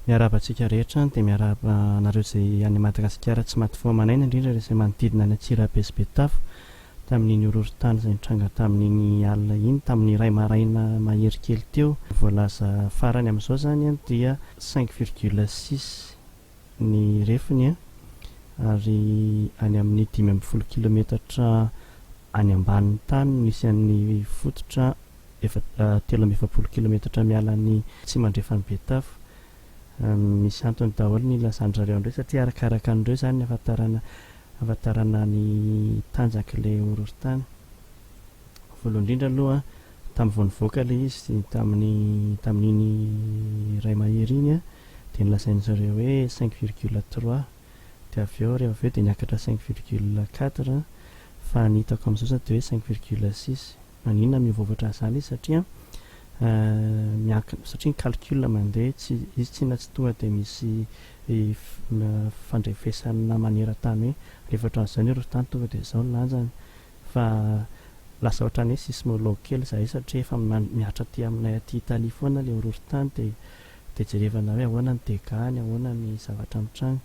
Miarahaba antsika rehetra any dia miarahaba anareo izay any Madagasikara tsy maty fo aman'aina indrindra ireo izay manodidina any Antsirabe sy Betafo tamin'iny horohorontany izay nitranga tamin'iny alina iny tamin'ny iray maraina mahery kely teo ny voalaza farany amin'izao izany dia cinq virgule six ny refiny ary any amin'ny dimy ambin'ny folo kilometatra any ambanin'ny tany no misy an'ny fototra telo amby efapolo kilometatra miala ny atsimandrefan'i Betafo. Misy antony daholo ny nilazan-dry zareo an'ireo satria arakaraka an'ireo izany ny hafantarana ny tanjak'ilay horohorontany. Voalohany indrindra aloha, tamin'ny vao nivoaka ilay izy tamin'ny tamin'iny iray mahery iny dia nolazain'izy ireo hoe cinq virgule trois dia avy eo rehefa avy eo dia niakatra cinq virgule quatre fa ny hitako amin'izao izao dia hoe cinq virgule six. Maninona mihovovatra an'izany izy satria miankina satria ny calcul mandeha tsy izy tsy na tsy tonga dia misy fandrefesana maneran-tany hoe rehefa hatramin'izao ny erofontany tonga dia izao ny lanjany. fa lasa ohatran'ny hoe sismologue kely izahay satria efa mihatra aty aminay aty Italie foana ilay horohorontany dia dia jerevana hoe ahoana ny dégats-ny, ahoana ny zavatra mitranga.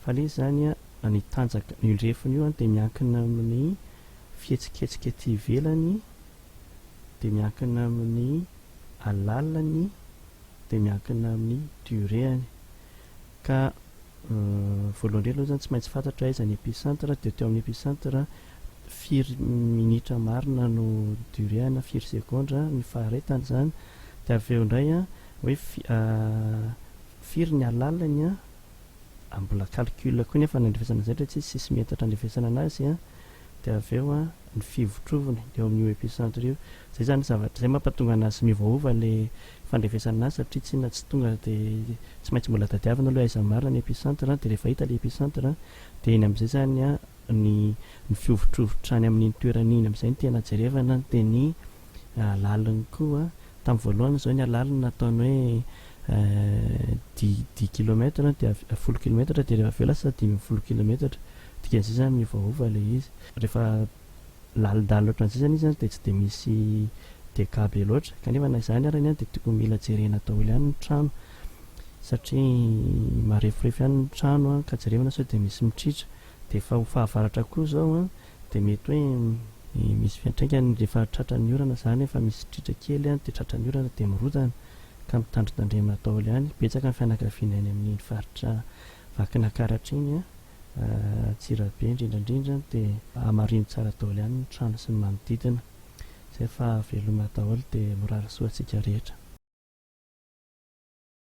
Fa ilay izy izany an, ny tanjaka, io refiny io an dia miankina amin'ny fihetsiketsika ety ivelany, dia miankina amin'ny alalany, dia miankina amin'ny durée-any. Ka voalohany indrindra aloha izany tsy maintsy fantatra aiza ny epicentre dia teo amin'ny epicentre firy minitra marina no durée na firy segondra ny faharetany izany dia avy eo indray hoe firy ny alalany mbola calcul koa nefa ny andrefesana izay dia tsy izy sisy metatra andrefesana an'azy dia avy eo ny fivotroviny eo amin'io epicentre io. Izay izany zavatra izay mampatonga an'azy miovaova ilay fandrefesana an'azy satria tsinona tsy tonga dia tsy maintsy mbola tadiavina aloha hoe aiza marina ny epicentre dia rehefa hita ilay epicentre dia iny amin'izay izany ny ny fihovotrovotra any amin'iny toerana iny amin'izay no tena jerevana dia ny laliny koa Tamin'ny voalohany izao ny alalana nataony hoe dix dix kilomètre an, dia avy folo kilometatra dia rehefa avy eo lasa dimy ambin'ny folo kilometatra, dikan'izay izany miovaova ilay izy. Rehefa lalindalina ohatran'izay izany izy an dia tsy dia misy dégâts be loatra, kanefa na izany ary anie dia tokony mila jerena daholo ihany ny trano satria mareforefo ihany ny trano an, ka jerena sao dia misy mitritra, dia efa ho fahavaratra koa izao an. Dia mety hoe misy fiantraikany rehefa tratran'ny orana izany, efa misy sitritra kely any dia tratran'ny orana dia mirodana ka mitandrintandremina daholo any. Betsaka ny fianakaviana any amin'iny faritra Vakinakaratra iny, Antsirabe indrindra indrindra, dia hamarino tsara daholo ihany ny trano sy ny manodidina izay fa veloma daholo dia mirary soa antsika rehetra.